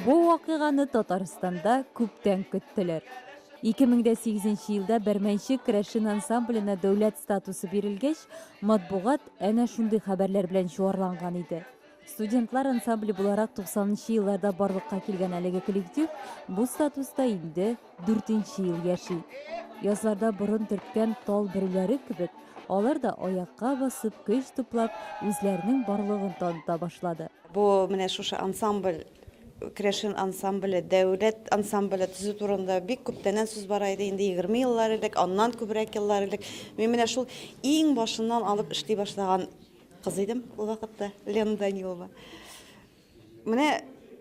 Бу вакыйганы Татарстанда күптән көттеләр. 2008 нче елда Бәрмәнче керәшен ансамбленә дәүләт статусы бирелгәч, матбугат әнә шундый хәбәрләр белән чуарланган иде. Студентлар ансамбле буларак 90 нчы елларда барлыкка килгән әлеге коллектив бу статуста инде Дүртенче ел яши. Язларда борын төрткән тал бөреләре кебек, алар да аякка басып, көч туплап, үзләренең барлыгын таныта башлады. Бу менә шушы ансамбль, Керәшен ансамбле, дәүләт ансамбле төзү турында бик күптәннән сүз бара иде, инде егерме еллар элек, аннан күбрәк еллар элек. Мин менә шул иң башыннан алып эшли башлаган кыз идем ул вакытта, Лена Данилова. Менә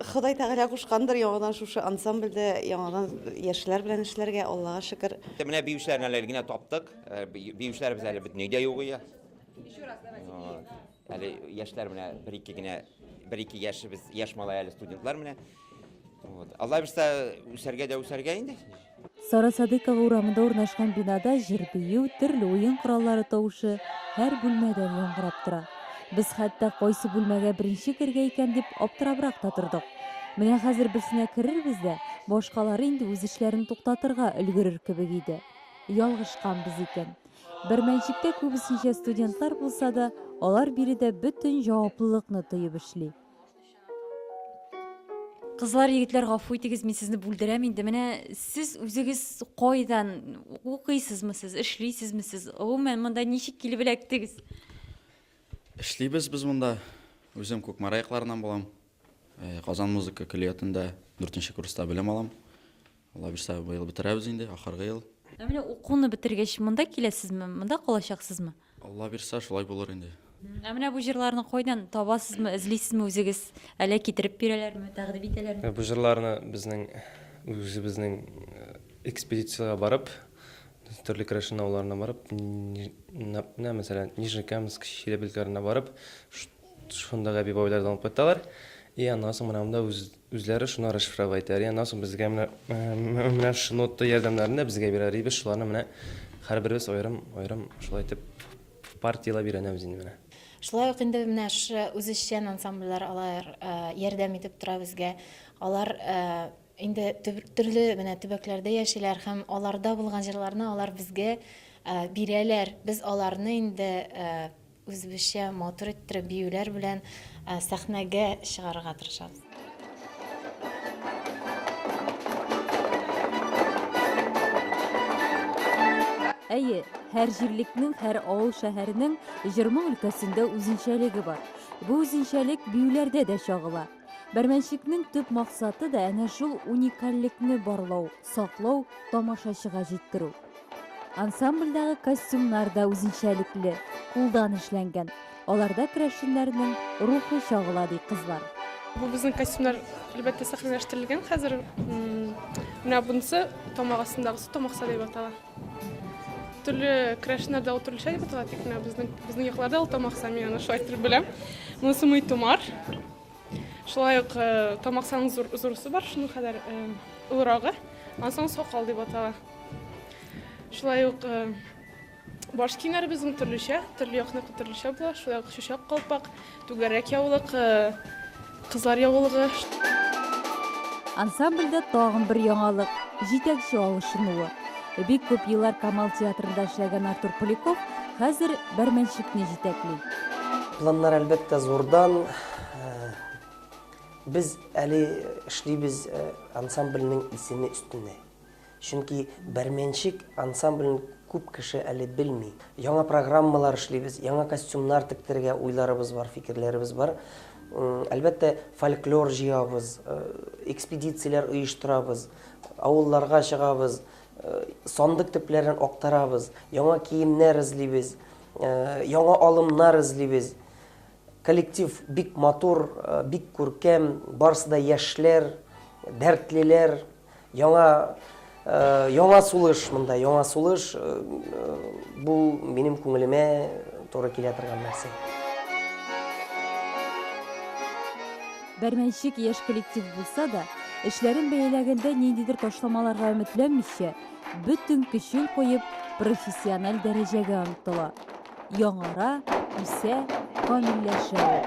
Ходай Тәгалә кушкандыр яңадан шушы ансамбльдә яңадан яшьләр белән эшләргә, Аллага шөкер. Менә биючеләрне әле генә таптык. Э, биючеләребез әле бөтенләй дә юк иде. Еще раз давайте. Әле яшьләр менә бер-ике генә, бер-ике яшебез, яшь малай әле студентлар менә. Вот. Алла бирса, үсәргә дә үсәргә инде. Сара Садыкова урамында урнашкан бинада җыр-бию, төрле уен кораллары тавышы һәр бүлмәдән яңгырап тора. Без хәтта кайсы бүлмәгә беренче кергә икән дип аптырабрак та тордык. Менә хәзер берсенә керербез дә, башкалары инде үз эшләрен туктатырга өлгерер кебек иде. Ялгышканбыз икән. Бер мәнчектә күбесенчә студентлар булса да, алар биредә бөтен җаваплылыкны тоеп эшли. Кызлар, егетләр, гафу итегез, мин сезне бүлдерәм инде. Менә сез үзегез кайдан укыйсызмы сез, эшлисезме сез? Гомумән, монда ничек килеп эләктегез? Эшлибез без монда. Үзем Күкмара якларыннан булам. Э, Казан музыка көллиятендә 4 курста белем алам. Алла бирсә, бу ел бетерәбез инде, ахыргы ел. Ә менә укуны бетергәч, монда киләсезме, монда калачаксызмы? Алла бирсә, шулай булыр инде. Ә менә бу җырларны кайдан табасызмы, эзлисезме үзегез? Әллә китереп бирәләрме, тәкъдим итәләрме? Бу җырларны безнең үзебезнең экспедициягә барып, төрле керәшен авылларына барып, менә мәсәлән, Нижнекамск, Чиләбе өлкәләренә барып, шундагы әби-бабайлардан алып кайталар. И аннан соң менә монда үз Үзләре шуны расшифровать итәр, аннан соң безгә менә менә шушы нота ярдәмнәрен дә безгә бирәр, и без шуларны менә һәрберебез аерым-аерым шулай итеп партияләп өйрәнәбез инде менә. Шулай ук инде менә шушы үзешчән ансамбльләр алар ярдәм итеп тора безгә. Алар инде төрле менә төбәкләрдә яшиләр һәм аларда булган җырларны алар безгә бирәләр. Без аларны инде Үзебезчә матур иттереп биюләр белән сәхнәгә чыгарырга тырышабыз. Әйе, һәр җирлекнең, һәр авыл-шәһәрнең җырмың өлкәсендә үзенчәлеге бар. Бу үзенчәлек биюләрдә дә чагыла. Бәрмәнчекнең төп максаты да әнә шул уникальлекне барлау. саклау, тамашачыга җиткерү. Ансамбльдәге костюмнар да үзенчәлекле, кулдан эшләнгән. Аларда керәшеннәрнең рухы чагыла, ди кызлар. Бу безнең костюмнар, әлбәттә, сәхнәләштерелгән хәзер. Менә бунысы тамак астындагысы тамак саде дип атала. Төрле керәшеннәрдә ул төрлечә дип атала, тик менә безнең безнең якларда ул тамак саде, мин аны шулай итеп беләм. Монысы мый томар. Шулай ук тамаксаның зур, зурысы бар, шуның кадәр олырагы. Аннан соң сакал дип атала. Шулай ук баш киемнәре безнең төрлечә, төрле якныкы төрлечә була. Шулай ук чүчәк калпак, түгәрәк яулык, кызлар яулыгы. Ансамбльдә тагын бер яңалык, җитәкче алышынуы. Бик күп еллар Камал театрында эшләгән Артур Поляков хәзер бәрмәнчекне җитәкли. Планнар әлбәттә зурдан, Без әле эшлибез э, ансамбльнең исеме өстенә. Чөнки Бәрмәнчек ансамблен күп кеше әле белми. Яңа программалар эшлибез, яңа костюмнар тектергә уйларыбыз бар, фикерләребез бар. Әлбәттә, фольклор җыябыз, э, экспедицияләр оештырабыз, авылларга чыгабыз, э, сандык төпләрен актарабыз, яңа киемнәр эзлибез, э, яңа алымнар эзлибез. Коллектив бик матур, бик күркәм, барысы да яшьләр, дәртлеләр, яңа яңа сулыш монда, яңа сулыш, бу минем күңелемә туры килә торган нәрсә. Бәрмәнчек яшь коллектив булса да, эшләрен бәяләгәндә ниндидер ташламаларга өметләнмичә, бөтен көчен куеп, профессиональ дәрәҗәгә омтыла. яңара, үсә, камилләшә ул.